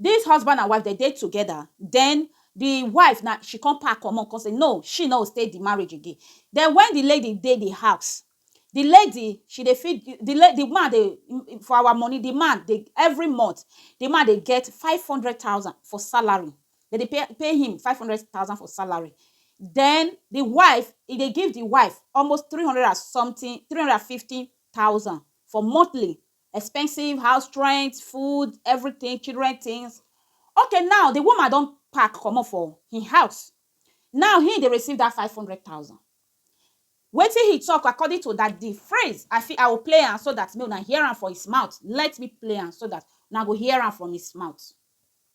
Dis husband and wife dem dey together den di wife na she come pack comot come say no she no go stay di marriage again den wen di lady dey di house di lady she dey feed di la di man dey for our money di man dey every month di man dey get five hundred thousand for salary dem dey pay pay him five hundred thousand for salary den di wife e dey give di wife almost three hundred and something three hundred and fifty thousand for monthly expensive house rent, food, everything, children things. Okay now, the woman don pack comot for hin house. Now hin dey receive dat five hundred thousand. Wetin he talk according to dat the phrase, I fit I will play am so dat make una hear am for his mouth. Let me play am so dat una go hear am from his mouth.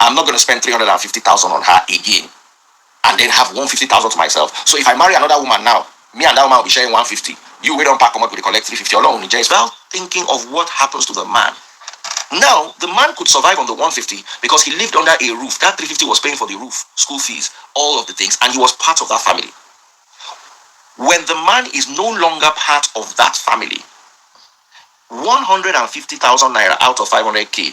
I'm not going to spend three hundred and fifty thousand on her again and then have one fifty thousand to myself so if I marry another woman now me and that woman will be sharing one fifty you wey don pack comot go dey collect three fifty Ọlọ́run ní jẹ́ well thinking of what happens to the man now the man could survive on the one fifty because he lived under a roof that three fifty was paying for the roof school fees all of the things and he was part of that family when the man is no longer part of that family one hundred and fifty thousand naira out of five hundred k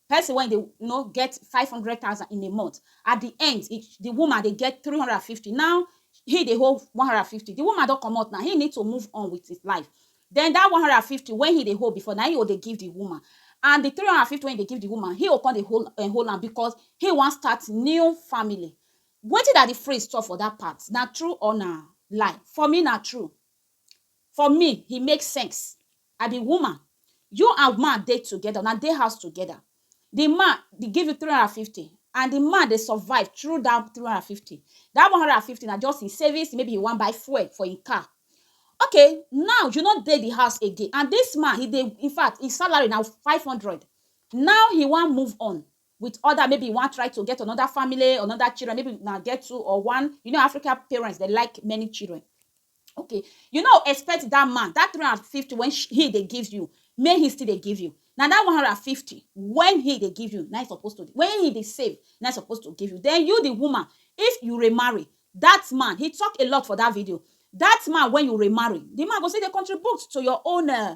person wey dey you know get five hundred thousand in a month at the end the woman dey get three hundred and fifty now he dey hold one hundred and fifty the woman don comot now he need to move on with his life then that one hundred and fifty wey he dey hold before na him he go dey give the woman and the three hundred and fifty wey he dey give the woman he go come dey hold um hold am because he wan start new family wetin daddy freeze talk for that part na true or na lie for me na true for me e make sense I be woman, you and man dey together, una dey house together, the man dey give you three hundred and fifty and the man dey survive through that three hundred and fifty, that one hundred and fifty na just him savings, maybe he wan buy fuel for him car. Okay, now you no dey the house again and this man, he dey, infact, him salary na five hundred, now he wan move on, with other maybe you wan try to get another family another children maybe una get two or one you know African parents they like many children okay you no expect that man that three hundred and fifty when she, he dey give you may he still dey give you na that one hundred and fifty when he dey give you na he suppose to when he dey save na he suppose to give you then you the woman if you remarry that man he talk a lot for that video that man when you remarry the man go still dey contribute to your own uh,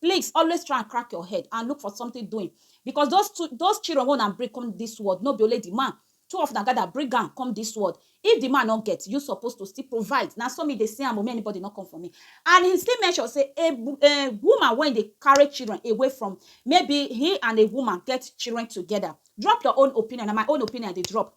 please always try and crack your head and look for something doing because those two those children wey una bring come this world no be only the man two of una gather bring am come this world if the man no get you suppose to still provide na so me dey see am o make anybody no come for me and he still mention say a, a woman wey dey carry children away from maybe he and a woman get children together drop your own opinion na my own opinion i dey drop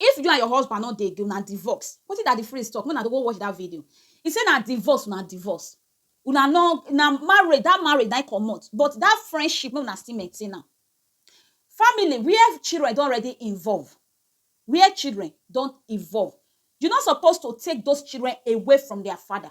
If you and your husband no dey again, una divorce. Wetin Daddy Freeze talk? Make una go watch that video. He say na divorce una divorce. Una no, na marriage, that marriage na im comot, but that friendship, make una still maintain am. Family where children don already involve, where children don involve, you no suppose to take those children away from their father.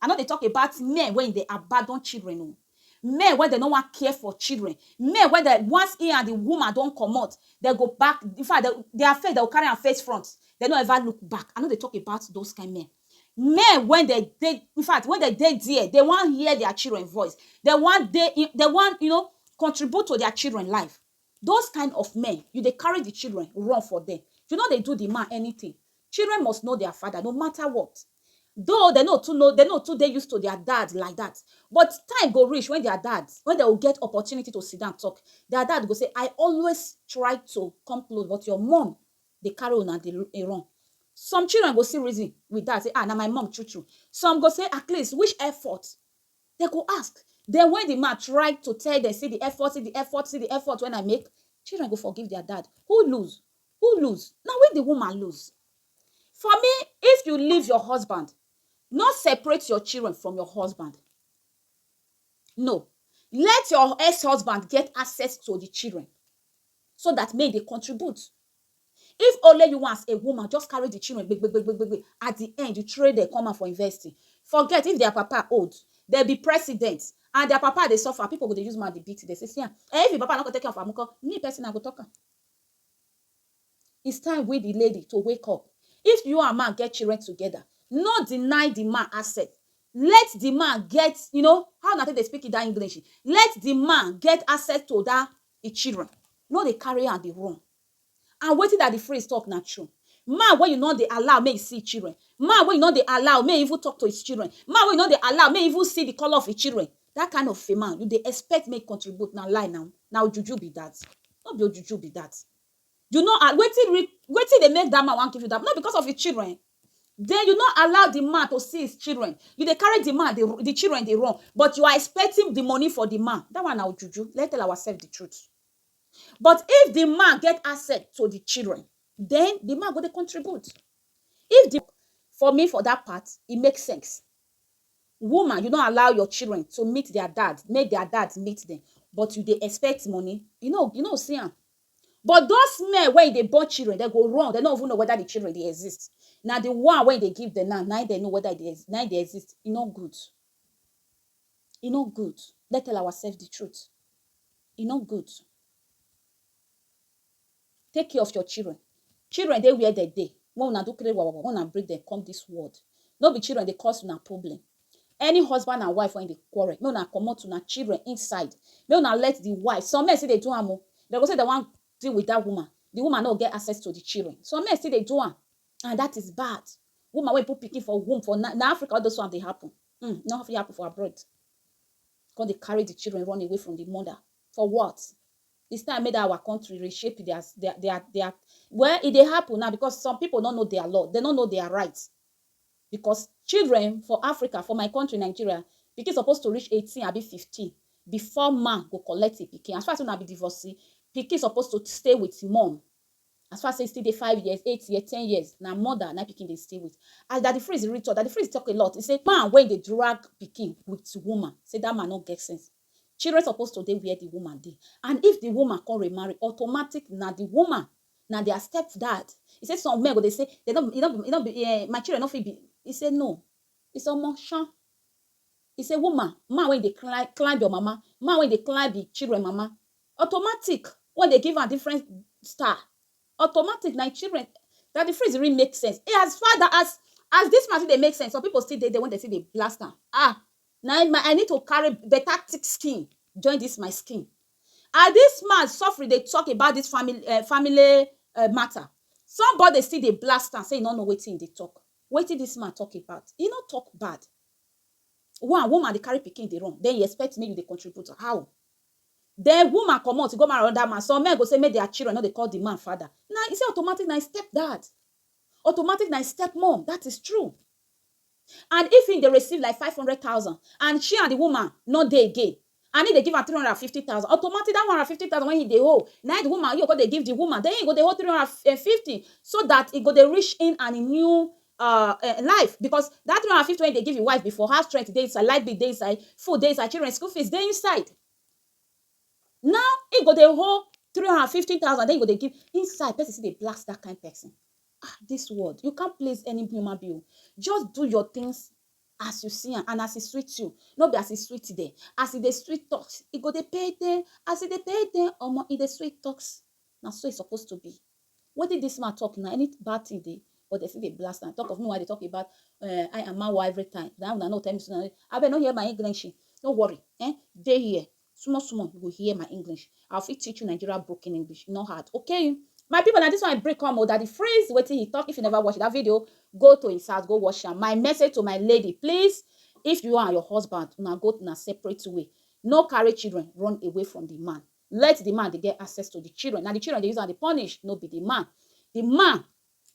I no dey talk about men wey dey abandon children o, men wey dem no wan care for children, men wey dem once he and the woman don comot, dem go back, in fact, dem their face dem go carry am face front, dem no ever look back, I no dey talk about those kind men. Men wey dem dey, in fact, wey dem dey there, dem wan hear their children voice, dem wan dey, dem wan you know contribute to their children life. Those kind of men, you dey carry the children run for dem. You no dey do the man anything. Children must know their father no matter what. Though dem no too know, dem no too dey used to their dad like that, but time go reach when their dad, when dem go get opportunity to sit down talk, their dad go say, I always try to come close but your mum dey carry una dey dey run. Some children go still reason with that say, ah, na my mum true true. Some go say, at least which effort? Dem go ask, den wen di man try to tell dem, See di effort, see di effort, see di effort wen I make, children go forgive dia dad. Who lose? Who lose? Na we di woman lose. For me, if you leave your husband, no separate your children from your husband. No. Let your ex-husband get access to di children so dat make e dey contribute. If only you as a woman just carry the children gbegbegbegbe at the end you train them come out for university forget if their papa old dem be president and their papa dey suffer people go dey use mouth dey beat dem say see am eh if him papa no go take care of am nko me person I go talk am it's time we the lady to wake up if you and man get children together no deny the man access let the man get you know how una take dey speak it that English let the man get access to that the children no dey carry am dey run and wetin daddy freeze talk na true man wey you no dey allow make e see him children man wey you no dey allow make e even talk to his children man wey you no dey allow make e even see the colour of him children that kind of a man you dey expect make e contribute na lie na na ojuju be that no be ojuju be that you no wetin wetin dey make that man wan give you that no be because of him children den you no allow di man to see his children, you dey carry di man dey di children dey run but you are expecting di money for di man, dat one na ojuju, let's tell ourselves di truth. But if di man get access to di children, den di man go dey contribute, if di for me for dat part e make sense, woman you no allow your children to meet dia dad, make dia dad meet dem but you dey expect money, you no you no go see am, But those men wey e dey born children, dem go run, dem no even know whether the children dey exist. Na the one wey e dey give dem now, na im dem know whether e dey, na im dey exist. E no good. E no good. Let's tell ourselves the truth. E no good. Take care of your children. Children dey where dem dey, make una do kiri wawawa, make una bring dem come dis world. No be children dey cause una problem. Any husband and wife wey dey quarrel, make una comot una children inside. Make una let the wife, some men still dey do am o, dem go say dem wan deal with dat woman, the woman no go get access to the children. Some men still dey do am and dat is bad. Woman wey put pikin for womb for night, na Africa all those ones dey happen um, e no fit happen for abroad. Con dey carry the children run away from the mother, for what? It's time make dat our country reshape their their their their, well e dey happen now because some people no know their law, dem no know their right. Because children for Africa, for my country Nigeria, pikin suppose to reach eighteen abi fifteen before man go collect him pikin. As far sey una be divorcee, pikin suppose to stay with him mum. As far sey e still dey five years, eight years, ten years, na mother na pikin dey stay with. As Daddy Freeze really talk, Daddy Freeze talk a lot, he say man wey dey drag pikin with woman, sey dat man no get sense. Children suppose to dey where the woman dey. And if the woman con remarry, automatic na the woman na their step dad he say some men go dey say dey no be e no be um my children no fit be he say no he say omo shan he say woman man wey dey climb climb your mama man wey dey climb him children mama automatic wey dey give am different star automatic na him children Daddy Freeze really make sense as far as as this man still dey make sense some people still dey there wey dey still dey blast am ah Na im I need to carry better thick skin join this my skin as this man suffering dey talk about this family eh family matter somebody still dey blast am say e no know wetin e dey talk wetin this man talk about e no talk bad one woman dey carry pikin dey run then you expect make you dey contribute how then woman commot go marry another man some men go say make their children no dey call the man father na e say automatic na e step dad automatic na e step mum that is true and if im dey receive like five hundred thousand and she and di woman no dey again and im dey give am three hundred and fifty thousand automatic dat one hundred and fifty thousand wey im dey owe na im di woman im go come dey give di woman den im go dey owe three hundred and and fifty so dat e go dey reach im and im new um life because dat three hundred and fifty wey im dey give im wife before house rent dey inside light bill dey inside food dey inside children school fees dey inside now im go dey owe three hundred and fifty thousand den im go dey give inside person still dey blast dat kind person Ah, this world, you can't please any human being. Just do your things as you see am and as e sweet you no be as e sweet dem as e dey sweet talk e go dey pay dem as e dey pay dem omo e dey sweet talk na so e suppose to be wetin this man talk na any bad thing dey but they still dey blast am talk of me why they talk about uh, eh, I am Mawa every time na una no tell me so na abeg no hear my English no worry eh dey here Small small you go hear my English. I fit teach you Nigeria broken English, e no hard, okay? My people na this one I bring come o, Daddy Freeze wetin he talk, if you never watch that video, go to his house go watch am. My message to my lady, please if you and your husband una go una separate way, no carry children run away from the man, let the man dey get access to the children, na the children dey use am dey punish, no be the man. The man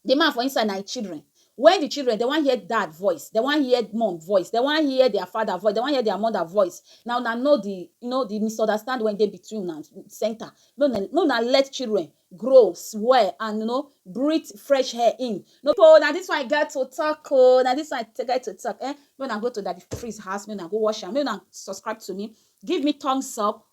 the man for inside na him children when the children they wan hear dad voice they wan hear mom voice they wan hear their father voice they wan hear their mother voice na una know the you know the misunderstand wey dey between una center make una make una let children grow well and you know breathe fresh air in no be na this one i get to talk o na this one i get to talk um make una go to daddy freeze house make una go watch am make una subscribe to me give me thumbs up